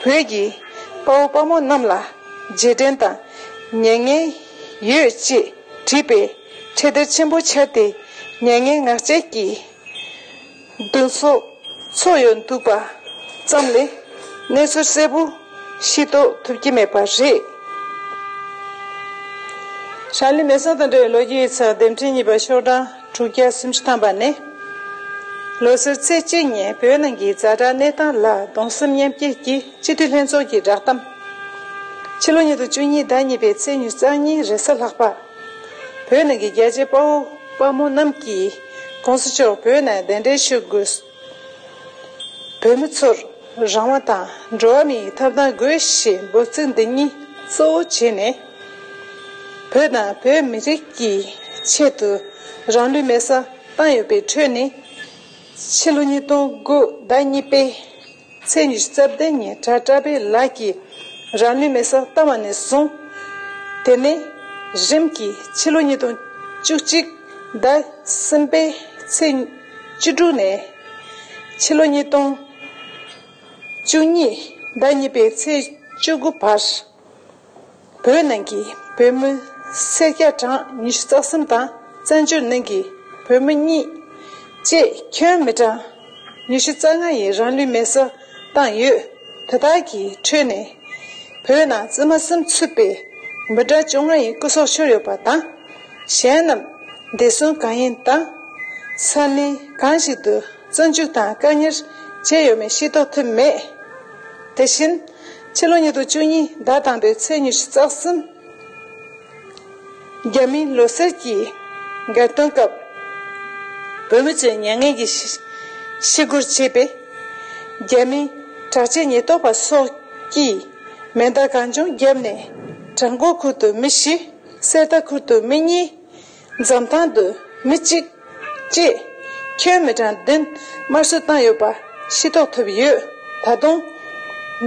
བོད་ཀྱི་དཔའ་བོ་དཔའ་མོ་རྣམས་ལ་རྗེས་དྲན་དང་མྱ་ངན་ཡོད་ཅེས་བྲིས་པའི་འཕྲེད་དར་ཆེན་པོ་འཕྱར་ཏེ་མྱ་ངན་ངག་བཅད་ཀྱིས། བདུན་སོགས་ཚོགས་ཡོད་འདུག་པ་ཙམ་ལས་གནས་ཚུལ་གསལ་པོ་ཤེས་རྟོགས་ཐུབ་ཀྱི་མེད་པ་རེད། ཧྲ་ལི་མེ་སང་དང་འབྲེལ་བའི་ལོ་རྒྱུས་ཡིག་ཚགས་ལྡེབ་འཕྲིན་གཉིས་པ་ཤོག་གྲངས་དྲུག་བརྒྱ་སུམ་ཅུ་ཐམ་པ་ནི། ལོ་སར་ཚེས་གཅིག་ཉིན་བོད་ནང་གི་རྫ་དྲག་གནས་སྟངས་ལ་གདུང་སེམས་མཉམ་སྐྱེད་ཀྱིས་སྤྱི་འཐུས་ལྷན་ཚོགས་ཀྱི་བསྒྲགས་གཏམ། ཕྱི་ལོ་ཉིས་སྟོང་བཅུ་གཉིས་ཟླ་གཉིས་པའི་ཚེས་ཉུ་རྩ་གཉིས་རེས་གཟའ་ལྷག་པ། བོད་ནང་གི་རྒྱལ་གཅེས་དཔའ་བོ་དཔའ་མོ་རྣམས་ཀྱིས། ྋགོང་ས་མཆོག་བོད་ནས་གདན་འདྲེན་ཞུ་དགོས། བོད་མི་ཚོར་རང་དབང་དང་འགྲོ་བ་མིའི་ཡི་ཐབས་དང་དགོས་ཞེས་འབོད་ཚིག་འདི་གཉིས་གཙོ་བོ་བྱས་ནས། བོད་དང་བོད་མི་རིགས་ཀྱི་ཆེད་དུ་རང་ལུས་མེ་སྲ་བཏང་ཡོད་པའི་ཁྲོད་ནས། ཕྱི་ལོ་ཉིས་སྟོང་དགུ་ཟླ་གཉིས་པའི། ཚེས་ཉི་ཤུ་རྩ་བདུན་ཉིན་གྲྭ་བཀྲ་བྷེ་ལགས་ཀྱིས་རང་ལུས་མེ་སར་བཏང་བ་ནས་བཟུང། དེ་ནས་རིམ་གྱིས་ཕྱི་ལོ་ཉིས་སྟོང་བཅུ་གཅིག་ཟླ་གསུམ་པའི་ཚེས་བཅུ་དྲུག་ནས། ཕྱི་ལོ་ཉིས་སྟོང་བཅུ་གཉིས་ཟླ་གཉིས་པའི་ཚེས་བཅུ་དགུ་བར། བོད་ནང་གི་བོད་མི་སེར་སྐྱ་གྲངས་ཉི་ཤུ་རྩ་གསུམ་དང་བཙན་བྱོལ་ནང་གི་བོད་མི་གཉིས། བཅས་ཁྱོན་མི་གྲངས་ཉི་ཤུ་རྩ་ལྔ་ཡི་རང་ལུས་མེར་བསྲེགས་བཏང་ཡོད། དེ་དག་གི་ཁྲོད་ནས། བོད་ནང་བཙུན་མ་སུམ་ཚུད་པའི་འབུ་ཕྲ་བཅོ་ལྔ་ཡི་སྐུ་སྲོག་ཤོར་ཡོད་པ་དང། གཞན་རྣམས་འདས་སོན་གང་ཡིན་དང། ས་གནས་གང་ཞིག་ཏུ་བཙོན་འཇུག་དང་བཀག་ཉར་བྱས་ཡོད་མེད་ཤེས་རྟོགས་ཐུབ་མེད། དེ་བཞིན། ཕྱི་ལོ་ཉིས་སྟོང་བཅུ་གཉིས་ཟླ་དང་པོའི་ཚེས་ཉི་ཤུ་རྩ་གསུམ། རྒྱ་མིའི་ལོ་གསར་གྱི་འགལ་སྟོན་སྐབས། བོད་མི་ཚོས་མྱ་ངན་གྱི་ཤི་སྒོར་བྱས་པས། རྒྱ་མིའི་དྲག་ཆས་ཉེན་རྟོག་པ་སོགས་ཀྱིས་མེ་མདའ་གང་བྱུང་བརྒྱབ་ནས་བྲག་མགོ་ཁུལ་དུ་མི་བཞི་གསེར་རྟ་ཁུལ་དུ་མི་གཉིས། འཛམ་ཐང་དུ་མི་གཅིག་གཅེས་ཁྱོན་མི་གྲངས་བདུན་དམར་གསོད་བཏང་ཡོད་པ་ཤེས་རྟོགས་ཐུབ་ཡོད། ད་དུང།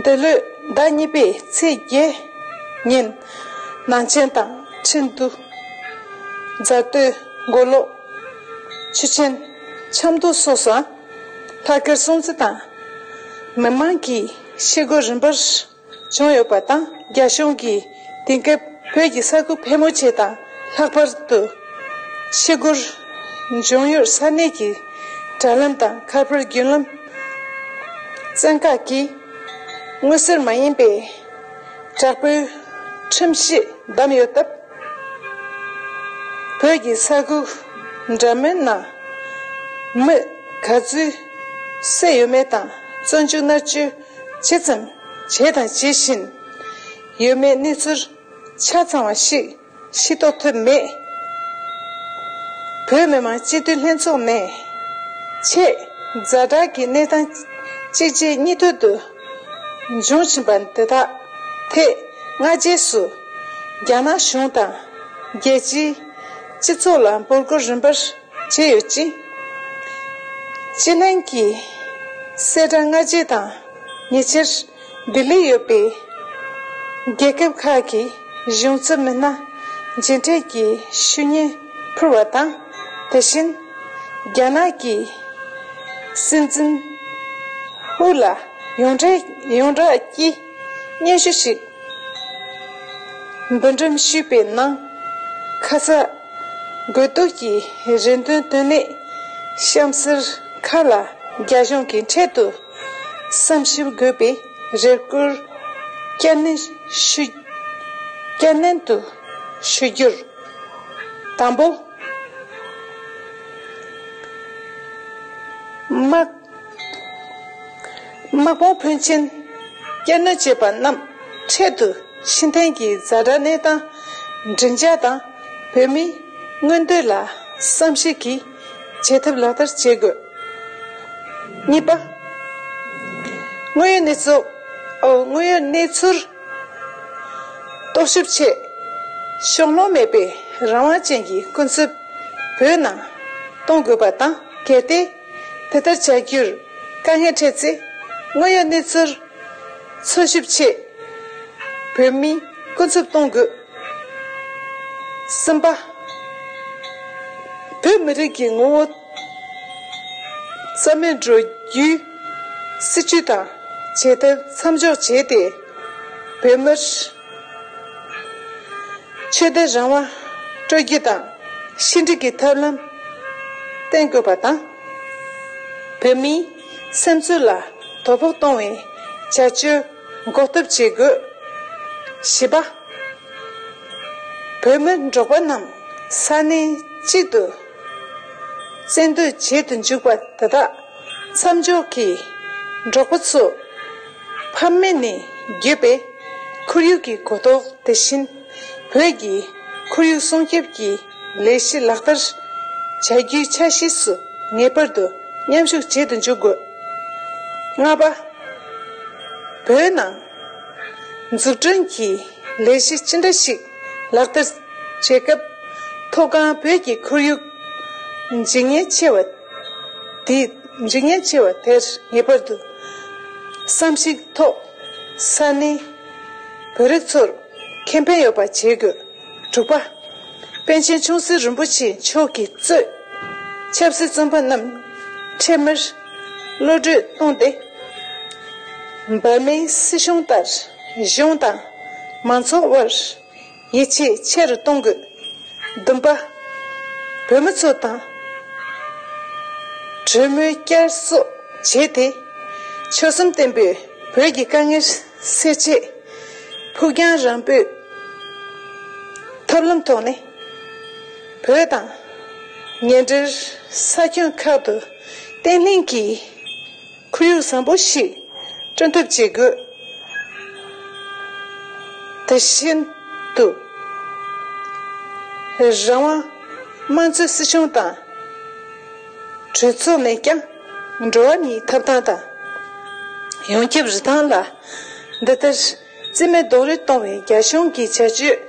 འདི་ལོའི་ཟླ་གཉིས་པའི་ཚེས་བརྒྱད་ཉིན། ནང་ཆེན་དང་ཁྲིན་ཏུ། རྫ་སྟོད། མགོ་ལོག། ཆུ་ཆེན། ཆབ་མདོ་སོགས་སུའང། ལྷག་དཀར་སྲུང་བརྩི་དང། མི་མང་གིས་ཤེལ་སྒོ་རིམ་པར། བྱུང་ཡོད་པ་དང་རྒྱ་གཞུང་གིས་དེང་སྐབས་བོད་ཀྱི་ས་ཁུལ་ཕལ་མོ་ཆེ་དང་ལྷག་པར་དུ། ཤི་སྒོར་འབྱུང་ཡུལ་ས་གནས་ཀྱི་དྲ་ལམ་དང་ཁ་པར་བརྒྱུད་ལམ་བཙན་བཀག་གིས་དངུལ་སེལ་མ་ཡིན་པའི་དྲག་པོའི་ཁྲིམས་གཞི་བསྡམས་ཡོད་སྟབས། བོད་ཀྱི་ས་ཁུལ་འདྲ་མིན་ན་མི་ག་ཚོད་བསད་ཡོད་མེད་དང་བཙོན་འཇུག་མནར་གཅོད་ཇི་ཙམ་བྱས་དང་ཇི་བཞིན། ཡོད་མེད་གནས་ཚུལ་ཆ་ཚང་བ་ཞིག་ཤེས་རྟོགས་ཐུབ་མེད། བོད་མི་མང་སྤྱི་འཐུས་ལྷན་ཚོགས་ནས། ཆེས་རྫ་དྲག་གི་གནས་སྟངས་གཅིག་རྗེས་གཉིས་མཐུད་དུ་འབྱུང་བཞིན་པ་འདི་དག་ཐད་སྔ་རྗེས་སུ་རྒྱ་ནག་གཞུང་དང་རྒྱལ་སྤྱིའི་སྤྱི་ཚོགས་ལ་འབོད་སྐུལ་རིམ་པར་བྱས་ཡོད་ཅིང། ཅི་ལིན་གྱིས་གསལ་བསྒྲགས་སྔ་རྗེས་དང་ཉེ་ཆེར་ལྡི་ལིར་ཡོད་པའི་རྒྱལ་ཁབ་ཁག་གི་གཞུང་ཚབ་མི་སྣ་མཇལ་འཕྲད་ཀྱི་ཞུ་སྙན་ཕུལ་བ་དང། དེ་བཞིན་རྒྱ་ནག་གི་སྲིད་འཛིན་ཧུའུ་ལ་ཡོངས་བསྒྲགས་ཀྱིས། སྙན་ཞུ་ཞིག་འབུལ་འགྲེམས་ཞུས་པའི་ནང། ཁ་ཚ་དགོས་གཏུགས་ཀྱི་རེ་འདུན་བཏོན་ནས་གཤམ་གསལ་ཁག་ལ་རྒྱ་གཞུང་གིས་འཕྲལ་དུ་བསམ་ཞིབ་དགོས་པའི་རེ་སྐུལ་བསྐྱར་ནན་དུ་ཞུ་རྒྱུར། དང་པོ། དམག། དམག་དཔུང་ཕོན་ཆེན་བསྐྱར་སྣོན་བྱས་པ་རྣམས་འཕྲལ་དུ་ཕྱི་འཐེན་གྱིས་བཟའ་བྲལ་གནས་སྟངས་བསྒྲིགས་འཇགས་དང་བོད་མིའི་མངོན་འདོད་ལ་བསམ་ཤེས་ཀྱིས་བྱེད་ཐབས་ལག་བསྟར་བྱེད་དགོས། གཉིས་པ། དངོས་ཡོད་གནས་ཚུལདངོས་ཡོད་གནས་ཚུལ་རྟོག་ཞིབ་ཆེད་ཕྱོགས་ལྷུང་མེད་པའི་རང་དབང་ཅན་གྱི་སྐུ་འཚོལ་བོད་ནང་གཏོང་དགོས་པ་དང་གལ་ཏེ། དེ་ལྟར་བྱ་རྒྱུར་དཀའ་ངལ་འཕྲད་ཚེ་དངོས་ཡོད་གནས་ཚུལ་འཚོལ་ཞིབ་ཆེད་བོད་མི་ཀུན་འཚུབ་གཏོང་དགོས། གསུམ་པ། བོད་མི་རིགས་ཀྱི་ངོ་བོ་རྩ་མེད་འགྲོ་རྒྱུའི་སྲིད་བྱུས་དང་བྱེད་ཐབས་མཚམས་འཇོག་བྱས་ཏེ་བོད་མིར། ཆོས་དད་རང་དབང་སྤྲོད་རྒྱུ་དང་ཕྱི་འབྲེལ་གྱི་ཐབས་ལམ་གཏན་དགོས་པ་དང། བོད་མིའི་སེམས་ཚོར་ལ་དོ་ཕོག་གཏོང་བའི་བྱ་སྤྱོད་འགོག་ཐབས་བྱེད་དགོས། བཞི་པ། བོད་མི་འབྲོག་པ་རྣམས་ས་གནས་གཅིག་ཏུ་བཙན་སྡོད་བྱེད་དུ་འཇུག་པ་དེ་དག་མཚམས་འཇོག་གིས་འབྲོག་པ་ཚོ། ཕམ་མེད་ནས་བརྒྱུད་པའི་ཁོར་ཡུག་གི་གོ་རྟོགས་དེ་བཞིན་བོད་ཀྱི་ཁོར་ཡུག་སྲུང་སྐྱོབ་ཀྱི་ལས་གཞི་ལག་བསྟར་བྱ་རྒྱུའི་འཆར་གཞི་སུ་ངེས་པར་དུ་མཉམ་ཞུགས་བྱེད་དུ་འཇུག་དགོས། ལྔ་པ། བོད་ནང་འཛུགས་སྐྲུན་གྱི་ལས་གཞི་ཅི་འདྲ་ཞིག་ལག་བསྟར་བྱེད་སྐབས་མཐོ་སྒང་བོད་ཀྱི་ཁོར་ཡུག་འཇིག་ཉེན་ཆེ་བ། དེས་འཇིག་ཉེན་ཆེ་བ་དེར་ངེས་པར་དུ་བསམ་གཞིགས་ཐོག་ས་གནས་བོད་རིགས་ཚོར་ཁེ་ཕན་ཡོད་པ་བྱེད་དགོས། དྲུག་པ། པཎ་ཆེན་ཆུང་སྲིད་རིན་པོ་ཆེ་མཆོག་གིས་གཙོས་ཆབ་སྲིད་བཙོན་པ་རྣམས་འཕྲལ་མར་གློད་བཀྲོལ་བཏང་སྟེ། འབར་མའི་སྲིད་གཞུང་ལྟར་གཞུང་དང་མང་ཚོགས་དབར། ཡིད་ཆེས་ཆེ་རུ་གཏོང་དགོས། བདུན་པ། བོད་མི་ཚོ་དང། གྲོས་མོལ་བསྐྱར་གསོ་བྱས་ཏེ། ཆོལ་གསུམ་བརྟན་པོས་བོད་ཀྱི་དཀའ་ངལ་སེལ་ཆེད། ཕུགས་རྒྱང་རིང་པོས་ཐབས་ལམ་ཐོག་ནས། བོད་དང། ཉེ་འབྲེལ་ས་ཁྱོན་ཁག་ཏུ་བརྟན་ལྷིང་གི། ཁོར་ཡུག་བཟང་པོ་ཞིག་བསྐྲུན་ཐབས་བྱེད་དགོས། དེ་བཞིན་དུ། རང་དབང་དམངས་གཙོའི་སྲིད་གཞུང་དང། གྲོས་ཚོགས་མེད་ཀྱང་འགྲོ་བ་མིའི་ཐོབ་ཐང་དང། ཡོངས་ཁྱབ་རི་ཐང་ལ་འདི་ལྟར། རྩི་མེད་རྡོ་རུས་སྟོང་བའི་རྒྱ་གཞུང་གི་བྱ་སྤྱོད།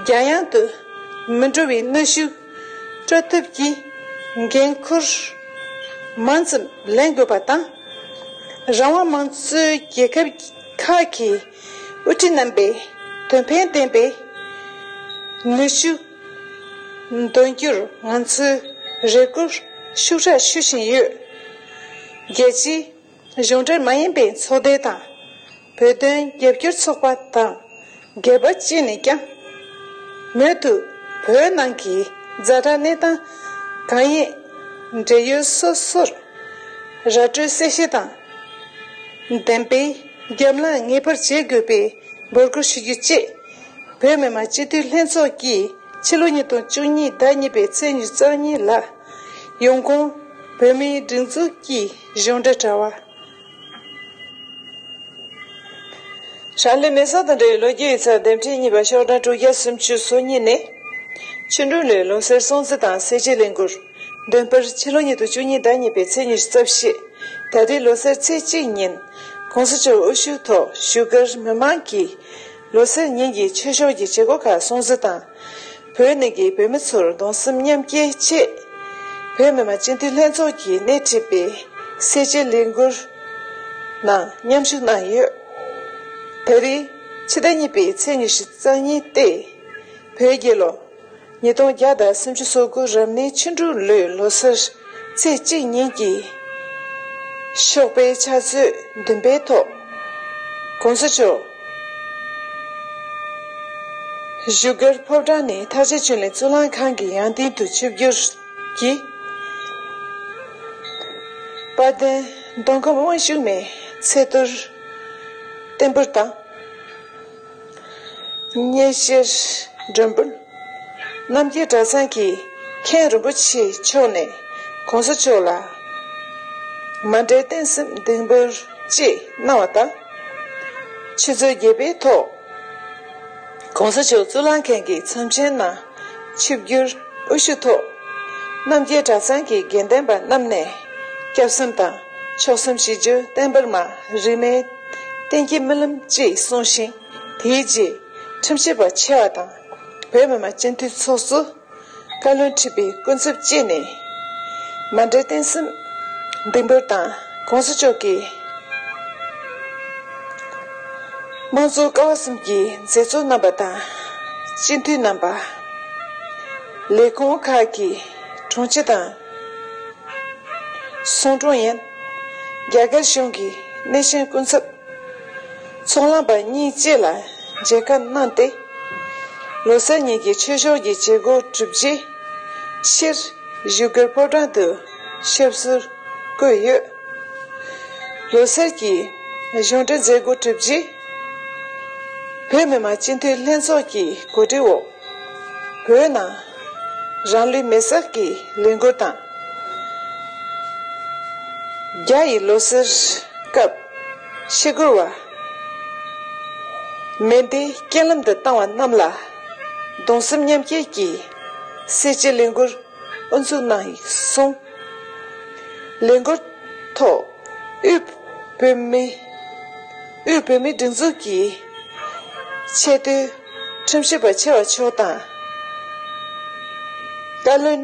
རྒྱ་ཡང་དུ་མི་འགྲོ་བའི་གནོད་ཤུགས་སྤྲོད་ཐབས་ཀྱི་འགན་ཁུར་མང་ཙམ་ལེན་དགོས་པ་དང། རང་དབང་མང་གཙོའི་རྒྱལ་ཁབ་ཁག་གི་དབུ་ཁྲིད་རྣམ་པས་དོན་ཕན་ལྡན་པའི་ནུས་ཤུགས་འདོན་རྒྱུར་ང་ཚོས་རེ་སྒུག་ཤུགས་དྲག་ཞུ་བཞིན་ཡོད། རྒྱལ་སྤྱིའི། གཞུང་འབྲེལ་མ་ཡིན་པའི་ཚོགས་སྡེ་དང། བོད་དོན་རྒྱབ་སྐྱོར་ཚོགས་པ་དང་སྒེར་པ་བཅས་ནས་ཀྱང། མུ་མཐུད་བོད་ནང་གི་རྫ་དྲག་གནས་སྟངས་གང་ཡིན། འབྲེལ་ཡོད་སོ་སོར་ར་སྤྲོད་གསལ་བཤད་དང། བདེན་དཔེ་རྒྱབ་ལངས་ངེས་པར་བྱེད་དགོས་པའི་འབོད་སྐུལ་ཞུ་རྒྱུ་བཅས། བོད་མི་མང་སྤྱི་འཐུས་ལྷན་ཚོགས་ཀྱིས་ཕྱི་ལོ་ཉིས་སྟོང་བཅུ་གཉིས་ཟླ་གཉིས་པའི་ཚེས་ཉེར་གཉིས་ལ། ཡོང་གོང་བོད་མིའི་སྒྲིག་འཛུགས་ཀྱི་གཞུང་འབྲེལ་དྲ་བ། ཧྲ་ལི་མེ་སོགས་དང་འབྲེལ་བའི་ལོ་རྒྱུས་ཡིག་ཚགས་ལྡེབ་འཕྲིན་གཉིས་པ་ཤོག་གྲངས་དྲུག་བརྒྱ་སུམ་བཅུ་སོ་གཉིས་ནས། ཕྱི་འབྲུག་ལོའི་ལོ་སར་སྲུང་བརྩི་དང་སེར་བྱེས་ལས་འགུལ་འདོན་སྤེལ་ཕྱི་ལོ་ཉིས་སྟོང་བཅུ་གཉིས་ཟླ་གཉིས་པའི་ཚེས་ཉེར་བརྩེགས་བཞེས་ད་ལྟའི་ལོ་སར་ཚེས་གཅིག་ཉིན ྋགོང་ས་མཆོག་དབུ་བཞུགས་ཐོག་བཞུགས་སྒར་མི་མང་གིས་ལོ་སར་ཉིན་གྱི་ཆོས་ཕྱོགས་ཀྱི་བྱེད་སྒོ་ཁག་སྲུང་བརྩི་དང། བོད་ནས་ཀྱི་བོད་མི་ཚོར་གདུང་སེམས་མཉམ་སྐྱེ་ཆེད། བོད་མི་མང་སྤྱི་འཐུས་ལྷན་ཚོགས་ཀྱིས་སྣེ་ཁྲིད་པའི་སེར་བྱེས་ལས་འགུལ་ནང་མཉམ་ཞུགས་གནང་ཡོད། ད་རེས་ཕྱི་ཟླ་གཉིས་པའི་ཚེས་ཉི་ཤུ་རྩ་གཉིས་སྟེ། བོད་རྒྱལ་ལོ་ཉིས་སྟོང་བརྒྱ་དང་སུམ་ཅུ་སོ་དགུ་རབ་གནས་ཕྱི་འབྲུག་ལོའི་ལོ་སར་ཚེས་གཅིག་ཉིན་གྱི་ཤོག་པའི་ཕྱག་མཛོད་བདུན་པའི་ཐོག ྋགོང་ས་མཆོག་བཞུགས་སྒར་ཕོ་བྲང་ནི་དྷ་ས་ཆོས་གླིང་གཙུག་ལག་ཁང་གི་ཡང་སྟེང་དུ་ཆིབས་བསྒྱུར་གྱིས། དཔལ་ལྡན་མདོ་ཁམས་དབང་ཕྱུག་མའི་ཚེ་བསྟར་བརྟན་པོར་དང། གཉེན་བཤེས་སྒྲོན་འབུལ། རྣམ་རྒྱལ་གྲྭ་ཚང་གི་མཁན་རིན་པོ་ཆེ་མཆོག་ནས་གོང་ས་མཆོག་ལ་མ་འདྲེས་བསྟན་སྲིད་འདེགས་འབུལ་ཅེས་གནང་བ་དང། ཆུ་ཚོད་བརྒྱད་པའི་ཐོག་གོང་ས་མཆོག་གཙུག་ལག་མཁན་གྱི་ཚོམས་ཆེན་ནང་ཆིབས་བསྒྱུར་དབུ་བཞུགས་ཐོག་རྣམ་རྒྱལ་གྲྭ་ཚང་གི་དགེ་ལྡན་པ་རྣམས་ནས་སྐྱབས་སེམས་དང་མཆོག་སེམས་ཞི་བརྗོད་བསྟན་འབར་མ་རིས་མེད་བསྟན་གྱི་རྨི་ལམ་ཅེས་གསུངས་ཤིང། དེའི་རྗེས་ཁྲིམས་ཞིབ་པ་ཆེ་བ་དང་བོད་མི་མང་སྤྱི་འཐུས་ཚོགས་སུ་བཀའ་བློན་ཁྲི་པའི་སྐུ་འཚབ་བཅས་ནས་མ་འདྲེས་བརྟན་སྲུང་འདེགས་འབུལ་དང ྋགོང་ས་མཆོག་གིས་དམངས་གཙོའི་ཀ་བ་གསུམ་གྱི་མཛད་གཙོ་རྣམ་པ་དང་སྤྱི་འཐུས་རྣམ་པ། ལས་ཁུངས་ཁག་གི་དྲུང་ཆེ་དང་ཟུང་དྲུང་ཡན། རྒྱ་གར་གཞུང་གི་སྣེ་ཤན་སྐུ་འཚབ། ཚོང་ལམ་པ་གཉིས་བཅས་ལ་མཇལ་ཁ་གནང་སྟེ། ལོ་སར་ཉིན་གྱི་ཆོས་ཕྱོགས་ཀྱི་བྱེད་སྒོ་གྲུབ་རྗེས། ཕྱིར་བཞུགས་སྒར་ཕོ་བྲང་དུ་ཞབས་སུ་བཀོད་ཡོད། ལོ་སར་གྱི་གཞུང་འབྲེལ་མཛད་སྒོ་གྲུབ་རྗེས། བོད་མི་མང་སྤྱི་འཐུས་ལྷན་ཚོགས་ཀྱི་གོ་སྒྲིག་འོག་བོད་ནང་རང་ལུས་མེར་བསྲེགས་ཀྱི་ལས་འགུལ་དང། རྒྱ་ཡི་ལོ་སར་སྐབས། ཕྱི་རྒོལ་བ། མེ་མདའི་རྐྱེན་ལམ་དུ་བཏང་བ་རྣམས་ལ་གདུང་སེམས་མཉམ་སྐྱེད་ཀྱིས་གསལ་བྱེད་ལས་འགུལ་དབུ་འཛུགས་གནང་ཡིག་གསུང། ལས་འགུལ་ཐོག་དབུས་བོད་མི་དབུས་བོད་མིའི་སྒྲིག་འཛུགས་ཀྱི་ཆེས་མཐོའི་ཁྲིམས་ཞིབ་པ་ཆེ་བ་མཆོག་དང། བཀའ་བློན།